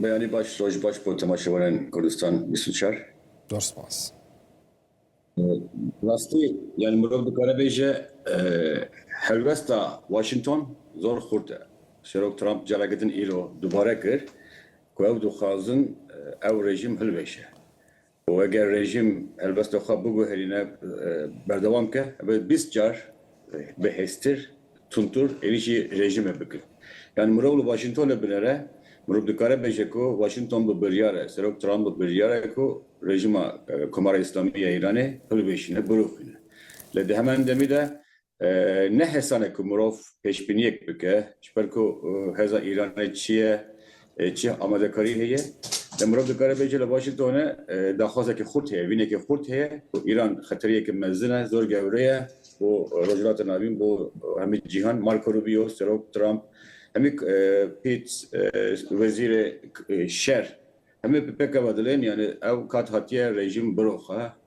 Beyanî baş, roj baş bo temaşevanên Kurdistan bîst û çar. Zor spas. Rastî yani mirov dikare bêje helwesta Washington zor xurt e. Serok Trump careke din îro dubare kir ku ew dixwazin ew rejîm hilveşe. û eger rejîm helbesta xwe biguherîne berdewam bike ev ê bîst car bi hêztir, tundtir êrîş ji rejîmê bike. Yanî mirov li Washingtonê binêre, mirov dikare bêje ku Washington bi biryar e, Serok Trump bi biryar e ku rejîma Komara Îslamî ya Îranê hilweşîne, birûxîne. Lê di heman demî de Ne hêsan e ku mirov pêşbîniyek bike, ji ber ku hêza Îranê çi ye, çi amadekarî heye. Lê mirov dikare bêje li Washingtonê daxwazekî xurt heye, vînekî xurt heye ku Îran xeteriyeke mezin e, zor gewre ye bo Rojhilata Navîn, bo hemî cîhan. Marco Rubio, Serok Trump, hemî Pete, Wezîrê Şer hemî bi pêk ve dilên, yanî ew kat hatiye rejîm biroxe.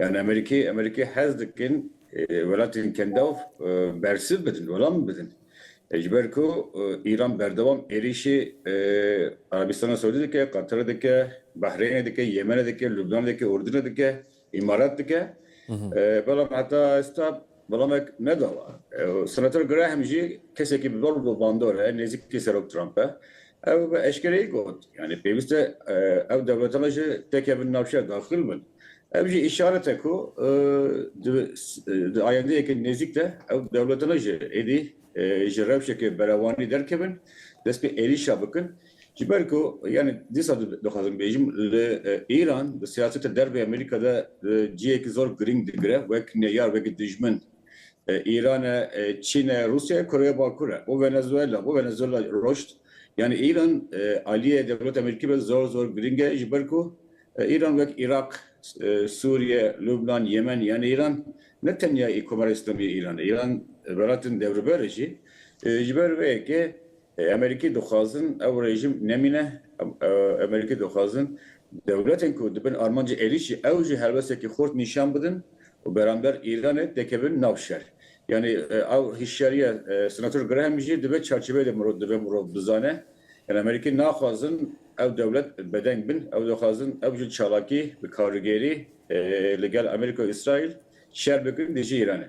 Yan Amerîkê Amerîkê hez dikin welatên kendav bersiv bidin, welam bidin. Ji ber ku Îran berdewam êrîşê Arabîstana Sewdî dike, Qatar dike, Bahreynê dike, Yemenê dike, Lubnanê dike, Urdinê dike, Îmarat dike. Belam heta êsta Welamek nedawa. Senator Graham jî kesekî bi ber û bi bandor e, nêzîkî Serok Trump e. Ew bi eşkereyî got, yanî pêwîst e ew dewletan ji tekevin navçeya daxil bin. Ev jî îşaret e ku di ayendeyeke nêzîk de ew dewletan jî êdî ji rewşeke berevanî derkevin, dest bi êrîşa bikin. Ji ber ku yanî dîsa dixwazim bêjim li Îran di siyaseta dervê Amerîka de cihêkî zor girîng digire wek neyar wek dijmin Îran e, Çîn e, Rûsya ye, Koreya Bakur e û Venezuela bo Venezuela roşt. Yanî Îran aliyê dewleta Amerîkî be zor zor girîng e ji ber ku Îran wek Îraq, Sûriye, Lubnan, Yemen yanî Îran ne tenya Komara Îslamî ya Îran e. Îran welatin dewriber e jî. Ji ber vê yekê Amerîkî dixwazin ew rejîm nemîne, Amerîkî dixwazin dewletên ku dibin armancê êrîşî ew jî helwestekî xurt nîşan bidin û beramber Îranê tê kevin nav şer. Yanî ew hişyariya Senator Graham jî di vê çarçiveyê de mirov divê mirov bizane. Yanî Amerîkî naxwazin ew dewlet bedeng bin, ew dixwazin ew jî çalakî bi karigêrî li gel Amerîka û Îsraîl şer bikin dijî Îranê.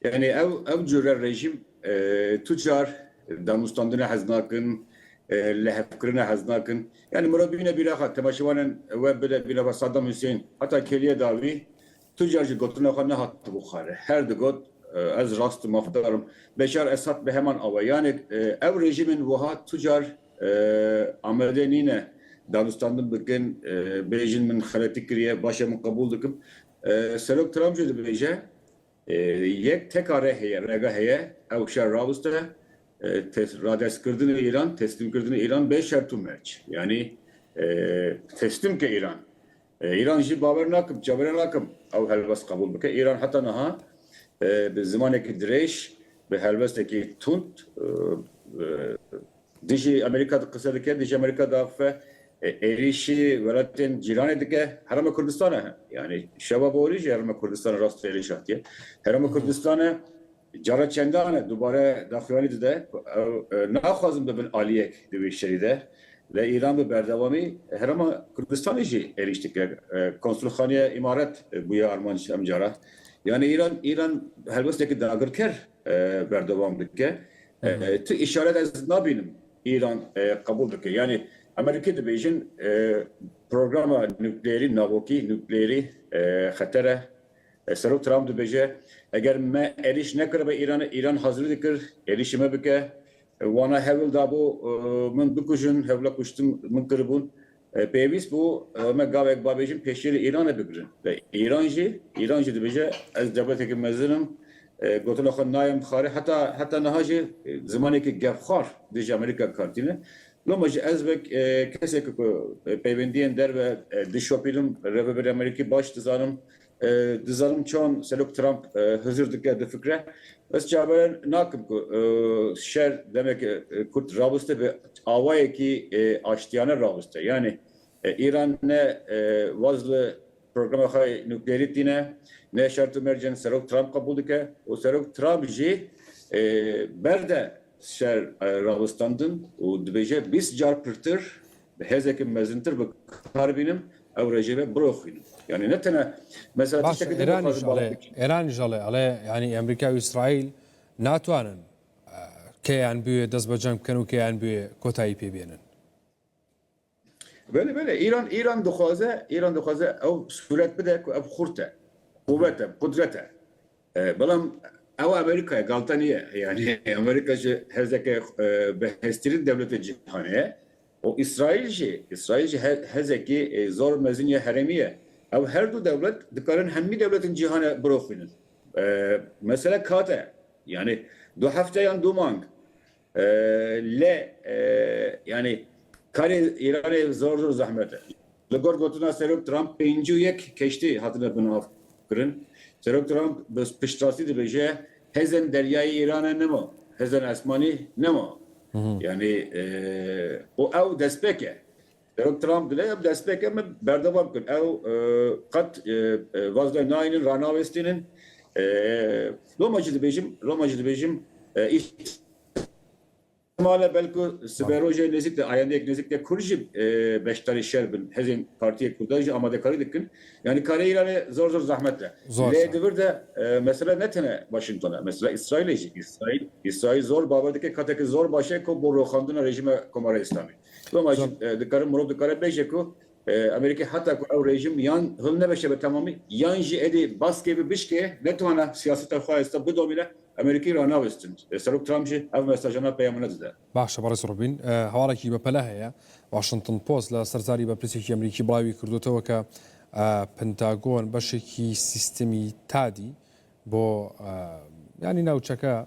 Yanî ew ew cure rejîm tu car danûstandinê hez nakin, lihevkirine hez nakin. Yanî mura bîne bîra xwe temaşewanen we bide bîra xwe Sadam Husên heta kêliyê dawî tu car ji gotina xwe nehatibû xare. Her digot ez rast û mafdar im. Beşar Esad bi heman awe. Yanî ew rejîmên wiha tu car amedê nîne danûstandin bikin, bêjin min xeletî kiriye, baş e min qebûl dikim. Serok Trump jî dibêje. Yek teka re heye, rega heye ew şer rawiste, radestkirdinê Îran, teslîmkirdinê Îran bê şert û merc. Yanî teslîm bike Îran. Îran jî bawer nakim, çavêre nakim ew helwest qebûl bike. Îran heta niha bi zimanekî dirêj, bi helwestekî tund Dijî Amerîka de qise dike, dijî Amerîka de axife êrîşî welatên cîranê dike, Herêma Kurdistana he. Yanî şeva borî jî Herêma Kurdistana rast êrîş hatiye. Herêma Kurdistana cara çendan e dubare daxuyanî dide ku ew naxwazin bibin aliyek di wî şerî de. Lê Îran bi berdewamî Herêma Kurdistanê jî êrîş dike. Konsulxaneya Îmarat bûye armanc em cara. Yanî Îran Îran helwestekî dagirker berdewam dike. Tu îşaret ez nabînim Îran qebûl dike. Yanî Amerîkî dibêjin programa nukleerî navokî, nukleerî xeter e. Serok Trump dibêje eger me êrîş nekiribe Îranê, Îran hazirî dikir êrîşê me bike. Wana hewil dabû min bikujin, hewla kuştin min kiribûn. Pêwîst bû me gavek babêjin pêşîrê Îranê bigirin. Îran jî Îran jî dibêje ez dewletekî mezin im, gotina xwe nayem bixare heta heta niha jî zimanekî gevxwar dijî Amerîka dikartîne. Loma jî ez wek kesekî ku peywendiyên derve dişopînim Rêvebirê Amerîkî baş dizanim Dizanim çawan Serok Trump hizir dike di fikre. Ez çaveren nakim ku şer demeke kurt raviste bi awayekî aştiyane raviste. Yanî Îran ne waz li programa xwe yê nuklerî tîne, ne şert û mercên Serok Trump qebûl dike û Serok Trump jî berde şer ravistandin û dibêje bîst car pirtir Bi hêzeke mezintir bi kar bînim ew rejê ve biroxînim. Yanî ne tene mesela tiştekî din dixwazim bala bikîm. Îran jî ale, ale yanî Amerîka û Îsraîl natwanin keyan bûye dest bi ceng bikin û keyan bûye kotayî pê bênin. Belê belê Îran Îran dixwaze Îran dixwaze ew sûret bide ku ev xurt e, quwet e, qudret e. Belam ew Amerîka ye, galta nîye. Yanî Amerîka jî hêzeke bihêztirîn dewleta cîhanê ye û Îsraîl jî, Îsraîl jî hêzekî zor mezin ya herêmî ye. Ew her du dewlet dikarin hemî dewletên cîhanê biroxînin. Mesele kat e. Yanî du hefte yan du mang. Lê yanî karê Îranê zor zor zehmet e. Li gor gotina Serok Trump pêncî û yek keştî hatine binavkirin. Serok Trump bi piştrastî dibêje hêzên deryayî Îranê nema, hêzên esmanî nema. Yanî û ew destpêk e. Dewek Trump dide ev destpêkê me berdewam bikin. Ew qet vaz ve nayînin, ranawêstînin. Loma jî dibêjim, loma jî dibêjim îhtimale belku sibê rojê nêzîk de ayendeyek nêzîk de Kurd jî beşdarî şer bin. Hêzên Partiyê Kurdan jî amadekarî dikin. Yanî karê Îranê zor zor zehmet e. Lê di vir de mesele ne tene Washington e. Mesele Îsraîlê jî. Îsraîl zor bawer dike katekî zor baş e ku bo roxandina rejîma Komara Îslamî. Sibama jî dikare mirov dikare bêje ku Amerîkê heta ku ew rejîm yan hilneveşe bi temamî yan jî êdî baskê bi bişkê netwane siyaseta xwe êsta bidomîne Amerîkî ranavêstin. Serok Trump jî ev mesajana peyama nedide. Baş e berêz Robîn. Hevalekî bepele heye. Washington Post li ser zarî berpirsîyekî Amerîkî birayî wî kirdotewe ke Pentagon beşekî sîstemî tadî bo yanî navçeke,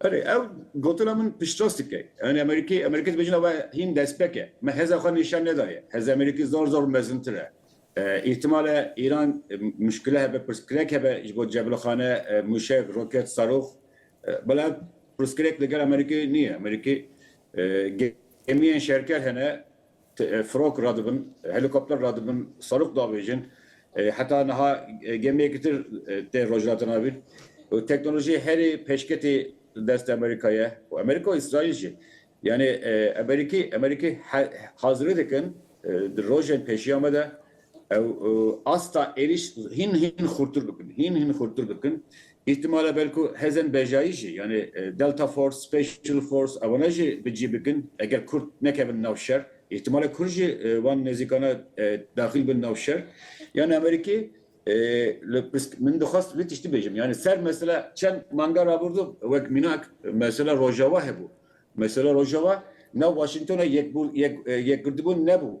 Erê ev gotina min piştrast dike. Yanî Amerîkê, Amerîkê dibêjin ev hîn destpêk e. Me hêza xwe nîşan nedaye. Hêza Amerîkê zor zor mezintir e. Îhtîmal e Îran muşkile hebe, pirsgirêk hebe ji bo cebirxane, mûşek, roket, sarox. Bela ev pirsgirêk li gel Amerîkê nîye. Amerîkê gemiyên şerker hene. Firok radibin, helîkopter radibin, serok davêjin. Heta niha gemiyekî tir tê rojhilatina vir û teknolojî herî pêşketî di destê Amerîka ye û Amerîka û Îsraîl jî. Yanî Amerîkî Amerîkî hazirî dikin di rojên pêşiya me de. Ew asta êrîş hîn hîn xurtir bikin, hîn hîn xurtir bikin. Îhtimale belko hêzên bejayî jî yanê Delta Force, Special Force ewana jî bi cî bikin eger Kurd nekevin nav şer. Îhtimale Kurd jî wan nêzîkana daxil bin nav şer. Yanê Amerîkê li pisk min dixwest vê tiştî bêjim. Yanê ser mesela çend manga rabordo wek mînak mesela Rojava hebû. Mesela Rojava nav Washingtona yek yek yekgirdibûn nebû.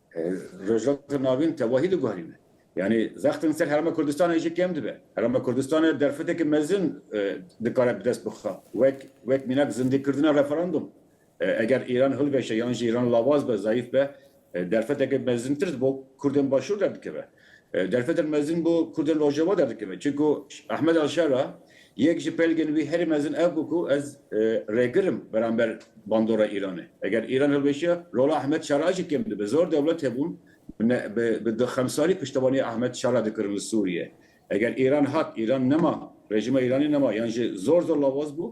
Rojhilata Navîn tevahî diguherîne. Yanî vextin ser Herêma Kurdistanê jî kêm dibe. Herêma Kurdistanê derfetekî mezin dikare bi dest bixe wek wek mînak zindîkirina referandûm. Eger Îran hilveşe yan jî Îran lawaz be, zayîf be, derfetekî mezintir ji bo Kurdên Başûr derdikeve. Derfetek mezin bo Kurdên Rojava derdikeve. Çimku Ahmed Al-Şara yek ji pelgên wî herî mezin ev bû ku ez rêgir im beramber bandora Îranê. Eger Îran hilweşiya rola Ahmed Şara jî kêm dibe. Zor dewlet hebûn bi xemsarî piştevaniya Ahmed Şara dikirin li Sûriyê. Eger Îran hat, Îran nema, rejîma Îranê nema yan jî zor zor lawaz bû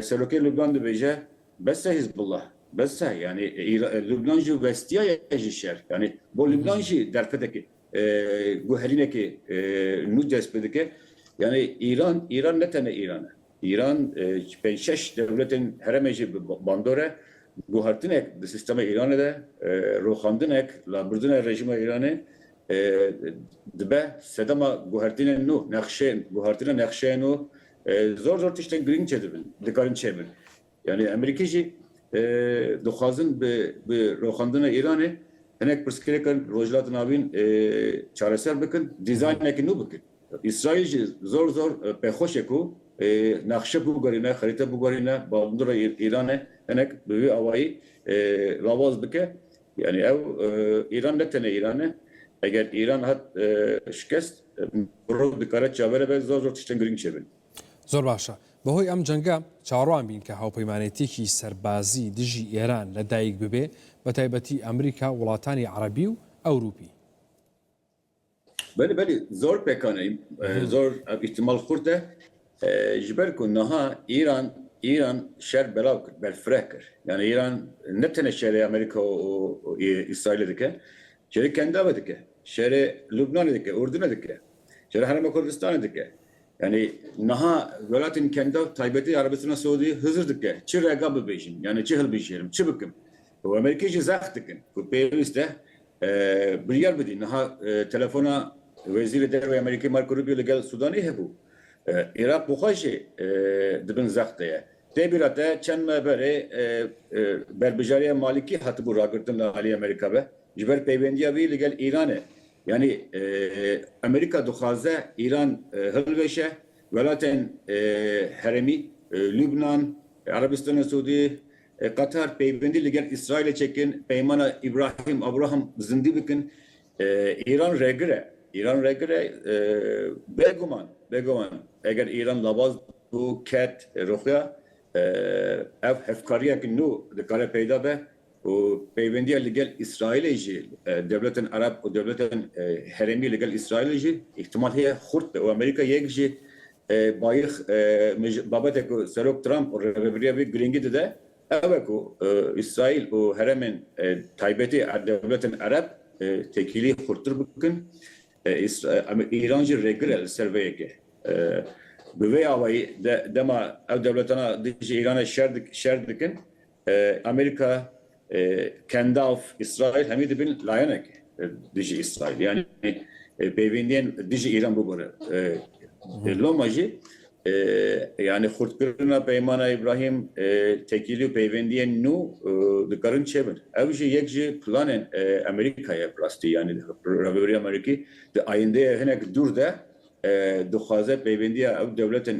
Serokê Lubnan dibêje, Bes e Hizbullah, bes e. Yanî Lubnan jî westiyaye ji şer. Yanî bo Lubnan jî derfetekê guherînekê nû dest pê dike. Yanî Îran, Îran ne tenê Îran e. Îran pênc şeş dewletên herêmê jî bi bandor e. Guhertinek di sîstema Îranê de, roxandinek, labirdina rejîma Îranê dibe sedema guhertinên nû, nexşeyên, guhertina nexşeyên nû Zor zor tiştên girîng çedibin, dikarin çêbin. Yanî Amerîkî jî dixwazin bi bi roxandina Îranê hinek pirsgirêkan Rojhilata Navîn çareser bikin, dîzaynekî nû bikin. Îsraîl jî zor zor pêxweş e ku nexşe biguherîne, xerîte biguherîne, bavndira Îranê hinek bi vî awayî lawaz bike. Yanî ew Îran ne tenê Îran e. Eger Îran hat şikest, mirov dikare çavere be zor zor tiştên girîng çêbin. Zor baş e. Bi hoy em cenga çaroan bîn ke hawpeymanêtiyekî serbazî dijî Îran ledayik bibê, bi taybetî Amerîka, welatanî Erebî û Ewrûpî. Belê belê zor pêkan e, zor ev îhtimal xurt e. Ji ber ku niha Îran Îran şer belav kir, berfireh kir. Yani Îran ne tenê şerê Amerîka û Îsraîlê dike, şerê Kendavê dike, şerê Lubnanê dike, Urdinê dike, şerê Herêma Kurdistanê dike. Yani niha welatên Kendav taybetî Erebistana Siûdî hizir dike. Çi rega bibêjim? Yani çi hilbijêrim? Çi bikim? Û Amerîkî jî zext dikin ku pêwîst e biryar bidîn. Niha telefona Wezîrê Derve ya Amerîkê Marco Rubio li gel Sûdanî hebû. Iraq bi xwe jî di bin zext de ye. Tê bîra te çend me berê berbijarîya Malîkî hatibû ragirtin li aliyê Amerîka ve ji ber peywendîya wî li gel Îranê. Yanî Amerîka dixwaze Îran hilweşe, welatên herêmî, Lubnan, Erebistana Sûdî, Qatar peywendî li gel Îsraîlê çekin, peymana Îbrahîm Abraham zindî bikin. Îran regir e. Îran regir e. Bêguman, bêguman eger Îran labaz bû, ket, rûxiya ev hevkariyek nû dikare peyda be û peywendiya li gel Îsraîlê jî dewletên Ereb û dewletên herêmî li gel Îsraîlê jî îhtimal heye xurt be û Amerîka yek jî Bayix babetê ku Serok Trump û rêveberiya wî girîngî dide ew e ku Îsraîl û heremên taybetî dewletên ereb têkilî xurttir bikin. Îran jî rêgir e li ser vê yekê. Bi vê awayî dema ew dewletana dijî Îranê şer dikin Amerîka, Kendalf, Îsraîl hemî dibin layenek dijî Îsraîlê. Yanî pêvendiyên dijî Îran bigore. Loma jî yanî xurtkirina Peymana Îbrahîm, tekîlî û pêvendiyên nû dikarin çêbin. Ew jî yek ji planên Amerîkayê ye bi rastî. Yanî Rêveberiya Amerîkî di ayîndeyê hinek dûr de dixwaze peywendîya ew dewletên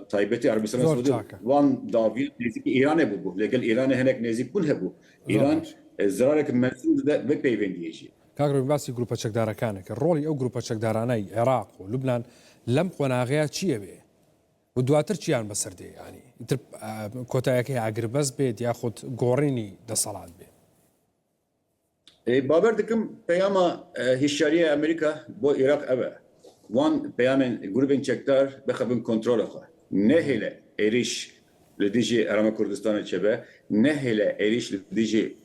taybetî Erebistana Siûdî wan daviyan nêzîkî Îranê bûbû. Lê gel Îranê hinek nêzîk bûn hebû. Îran zirarek mezin dide vê peywendîyê jî. Kak Rûmî basî grûpa çekdarekane kir. Rolî ew grûpa çekdarane yî Iraq û Lubnan lem qonaxeya çîyê bê û duatir çîyan bi sir dê? Yanî îtir kotayeke ya agiribes bê diya xut gorînî deselat bê? Bawer dikim peyama hişyariya Amerîka bo Iraq ev e, wan peyamên grûbên çekdar bixebin kontrola xwe, nehêle êrîş li dijî Herêma Kurdistanê çêbe, nehêle êrîş li dijî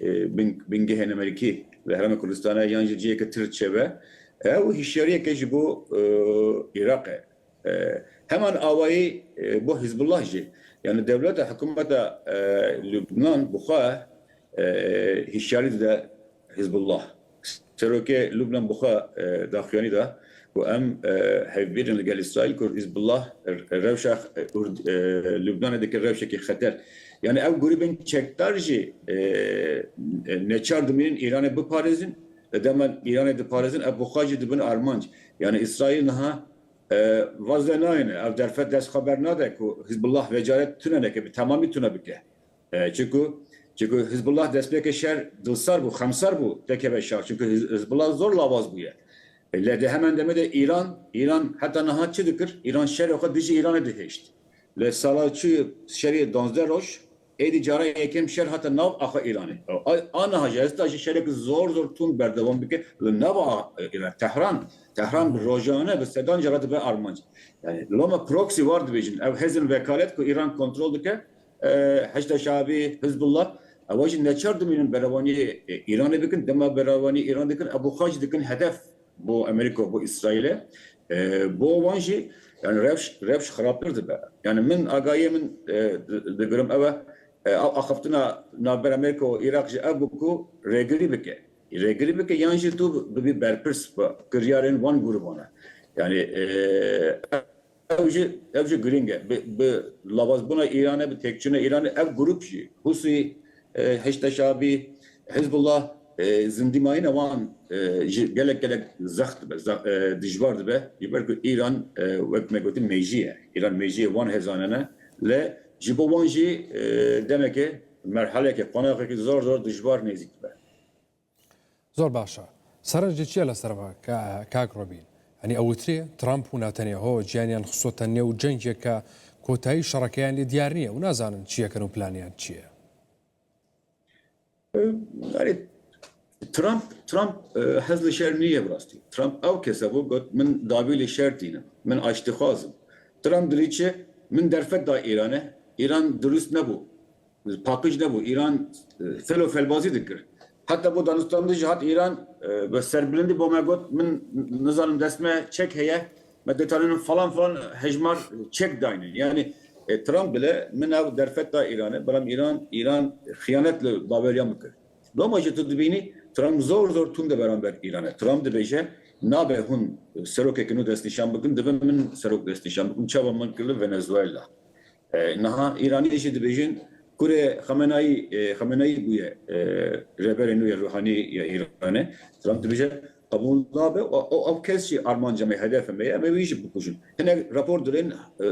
bingehên Amerîkî li Herêma Kurdistanê yan ji ciyeke tir çêbe. Ew hişyariyeke ji bo Iraq e. Heman awayî bo Hîzbullah jî. Yanî dewleta hikûmeta Lubnan bi xwe hişyarî dide Hîzbullah. Serokê Lubnan bi xwe daxuyanî da ku em hevbîr in li gel Îsraîl ku Hîzbullah rewşa Lubnanê dike rewşekî xeter. Yanî ew grûbên çekdar jî neçar dimînin Îranê biparêzin. Di dema Îranê diparêzin ev bi xwe jî dibin armanc. Yanî Îsraîl niha vaz ve nayêne. Ev derfet dest xwe bernade ku Hizbullah vê carê tune neke, bi temamî tune bike. Çimku çimku Hizbullah destpêkê şer dilsar bû, xemsar bû tekeve şer. Çimku Hizbullah zor lawaz bûye. Lê di heman demê de Îran Îran heta niha çi dikir? Îran şerê xwe dijî Îranê dihêşt. Li sala çûyî şerê duwazdeh roj Êdî cara yekem şer hate nav axa Îranê. Aniha jî hesta jî şerek zor zor tund berdewam dike li nav a Îranê. Tehran Tehran bi rojane bi sedan cara dibe armanc. Yanî loma proxy war dibêjin. Ev hêzên vekalet ku Îran kontrol dike, Heşda Şeabî, Hizbullah, ewa jî neçar dimînin berevanî Îranê bikin. Dema berevanî Îran dikin, ev xwe jî dikin hedef. Bo Amerîka û bo Îsraîlê bo wan jî yanî rewş rewş xirabtir dibe. Yanî min agayiyê min digirim ew e ew axiftina navber Amerîka û Îraq jî ev bû ku rêgirî bike. Rêgirî bike yan jî tu bibî berpirs bi kiryarên wan grûban e. Yanî Ev jî ev jî girîng e. Bi bi lavazbûna Îranê, bi têkçûna Îranê ev grûp jî Hûsî, Heşda Şabî, Hizbullah zindîmayîna wan ji gelek gelek zext dibe, zext dijbar dibe. Ji ber ku Îran wek me gotin mêjî ye. Îran mêjiyê wan hêzanan e. Lê ji bo wan jî demekê merheleke, qonaxekî zor zor dijbar nêzîk dibe. Zor baş e. Serencê çi ye li ser ve kak Robîn? Yanî ew witî Trump û Netanyaho ciyaniyan xisto te nêw cengek ke kotayî şerekeyan lê diyar nîye û nazanin çi yekin û planiyan çi ye. Erê Trump Trump hez li şer nîye bi rastî. Trump ew kes e ku got min dabî li şer tînim. Min aştîxwaz im. Trump dilê çi min derfet da Îranê. Îran dirûst nebû. Paqij nebû, Îran fel û felbazî dikir. Heta bo danûstandin jî hat Îran bi serbilindî bo me got, min nizanim dest me çek heye, me dê tanînin falan falan hejmar çek daynin. Yanî Trump bile min ew derfet da Îranê, belam Îran Îran xiyanet li baweriyan bikir. Loma jî tu dibînî Trump zor zor tund e beramber Îranê. Trump dibêje, nabe hûn serokeke nû destnîşan bikin, divê min serok destnîşan bikim, çawa min kir li Venezuela. Niha Îranî jî dibêjin kurê Xamenayî Xameneyî bûye rêberê nû yê ruhanî ya Îranê. Trump dibêje qebûl nabe û ew kes jî armanca me ye, hedefê me ye, em ê wî jî bikujin. Hinek rapor dirên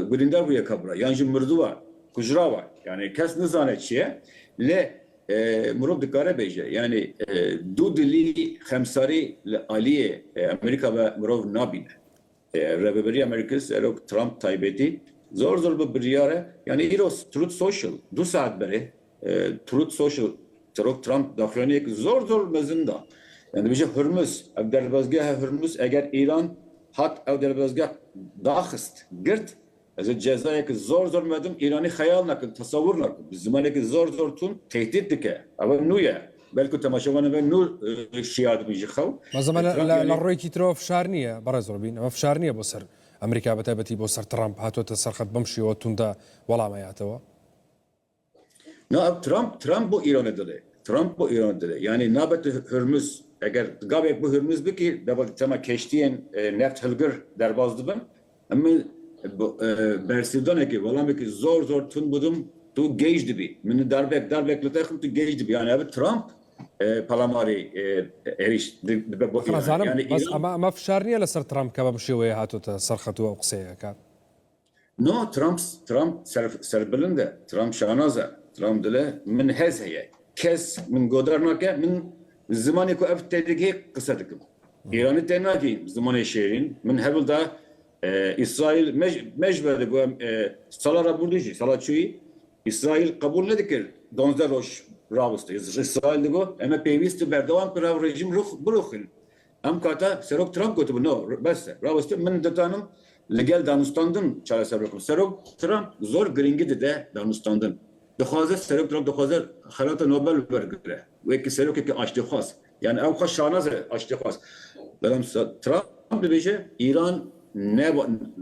gulîndar bûye kabûla yan jî mirduwa, kujrawa yanî kes nizane çi ye lê mirov dikare bêje yanî dûdilî, xemsarî li aliyê Amerîka ve mirov nabîne. Rêveberiya Merkel Serok Trump taybetî zor zor bi biryar e. Yanî îro Truth Social du saet berê Truth Social Serok Trump daxuyaniyek zor zor mezin da. Yanî dibêje Hurmuz ev derbazgeha Hurmuz eger Îran hat ew derbazgeh daxist, girt, Ez ê cezayeke zor zor medim, Îranî xeyal nakin, tesewur nakin. Bi zimaneke zor zor tund tehdît dike. Ewe nû ye. Belku temaşevanê me nû şiyar dibin ji xew. Bes em li rêkî tira fişar nîye berez Robîn. Ev fişar nîye bo ser Amerîka bi taybetî bo ser Trump hatote ser xet bim şêwe tund de welame yatewe. Na ev Trump Trump bo Îranê dide. Trump bo Îranê dide. Yanî nabe tu Hurmuz eger gavek bo Hurmuz bikî deba di tema keştiyên neft hilgir derbas dibin. Min bi bersîvdanekê welamekî zor zor tund bidim tu gêj dibî. Min darbek darbek li te xim tu gêj dibî. Yanî ev Trump pelamarê êrîş dibe bo Îranê. Yanî Îran. Bes ema ema fişar nîye li ser Trump keve bi şêweyê hatûte serxetû ew qiseyeke. No Trump Trump serbilind e, Trump şanaz e, Trump dile min hez heye, kes min godar nake, min zimanê ku ev tê digihê qise dikim. Îranî tê nakî zimanê şêrîn, min hewl da Îsraîl me ji ber digo em sala rabûrdû jî sala çûyî Îsraîl qebûl nedikir donzdeh roj rawestî. Îsraîl digo em ê pêwîst û berdewam bikin ev rejîm birûxin. Em kata Serok Trump gotibû no, bes e, rawestin min ditanim li gel danûstandin çareser bikim. Serok Trump zor girîngî dide danûstandin. Dixwaze Serok Trump dixwaze xelata Nobel wergire. Wekî serokekî aştîxwaz. Yanî ew xwe şanaz e aştîxwaz. Belam Trump dibêje Îran ne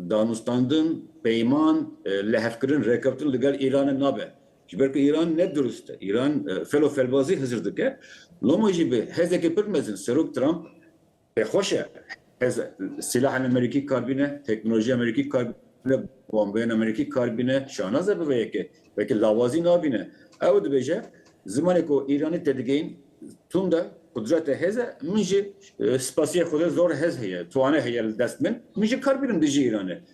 danûstandin, peyman, lihevkirin, rêkeftin li gel Îranê nabe. Ji ber ku Îran ne dirust e. Îran felo felbazî hizir dike. Loma jî bi hêzeke pir mezin Serok Trump pêxweş e hez sîlahên Amerîkî kar bîne, teknolojiya Amerîkî kar bîne, bombeyên Amerîkî kar bîne. Şahnaz e bi vê yekê. Weke lawazî nabîne. Ew dibêje zimanê ku Îranî tedigihîn tund e, qudrete hêz e. Min jî spasiyê Xwedê zor hez heye, twane heye li dest min. Min jî kar bînim dijî Îranê.